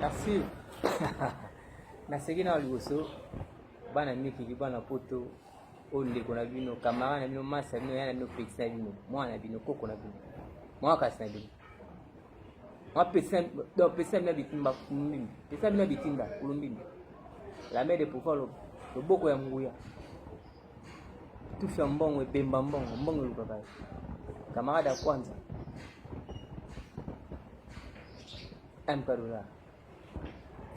Merci. Naseki na liboso bana mikili bana poto oyo ndeko na bino kamara na bino masi na bino ya na bino peti na bino mwana na bino koko na bino mwa kasi na bino mwa peti na bino bitimba kulumbimbi peti na bino bitimba kulumbimbi la mère de pouvoir loboko ya nguya tufi ya mbongo ebemba mbongo mbongo elukaka camarade ya kwanza Amparula.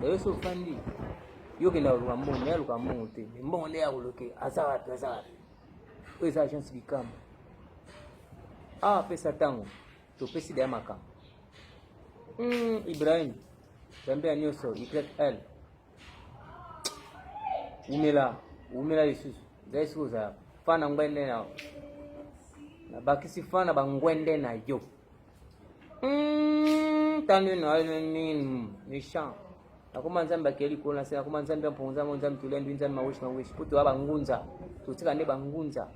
Dayo so fandi. Yo kenda koluka mbongo, mais aluka mbongo te. Mais mbongo nde akoloke, aza wapi, aza wapi. Oyo eza agence Bikama. Awa apesa ntango, topesi daya makambo. Mm, Ibrahim, Zambe ya nyonso, YL. Wumela, wumela lisusu. Zai siko za fana ngwende na na bakisi fana bangwende na yo. Hum, tanu na yo nini méchant nakoma nzambe akei likolo na se nakoma nzambe ya mponza yango nzambe tolembi nzambe maweshi maweshi mpo toya bangunza totika nde bangunza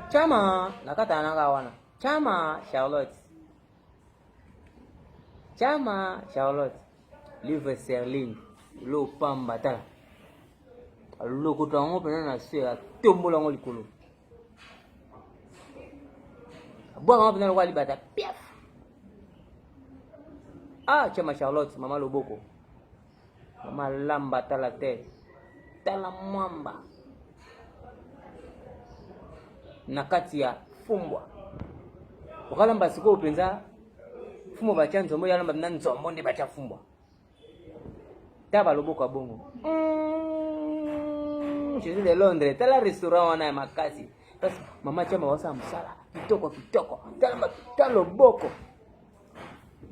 chama nakatana nanga wana chama charlotte chama charlotte livre serling lopamba tala lokoto yango mpena na se atombola yango likolo abwaka yango mpena lokola libata piaf ah chama charlotte mama loboko mama lamba tala te tala mwamba na kati ya fumbwa okalamba sikoyo mpenza fumbwa batya nzombo yalamba na nzombo nde batya fumbwa ta ba loboko ya bongo mm, je suis de londres tala restaurant wana ya makasi kasi mama chama wasala mosala kitoko kitoko tala ta loboko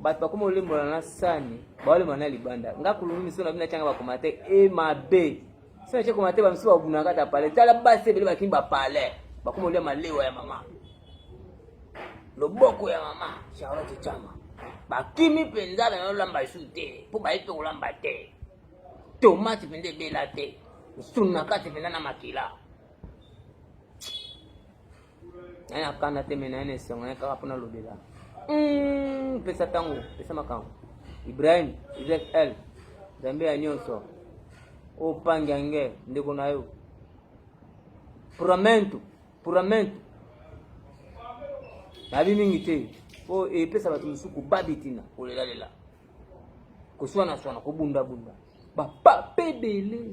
bato bakoma olembola na sani baolembola na libanda nga kulungu miso na bino atyanga bakoma te e mabe Sasa cheko mateba msiba wabunaka ta pale. Tala basi ebele bakini ba pale. Bakoma olia malewa ya mama. Loboko ya mama Charlotte Chama. Bakimi mpenza na lamba su te mpo bayebi mpe kolamba te. Tomate mpenza ebela te. Msuni na kati mpenza na makila. naye na kanda te me naye na esengo naye kaka mpona lobela hmm, pesa ntango pesa makambo ibrahim izl nzambe ya nyonso opangi yange ndeko na yo puramento puramento nayebi mingi te mpo epesa bato mosusu kobabitina kolelalela koswanaswana kobundabunda bapapa ebele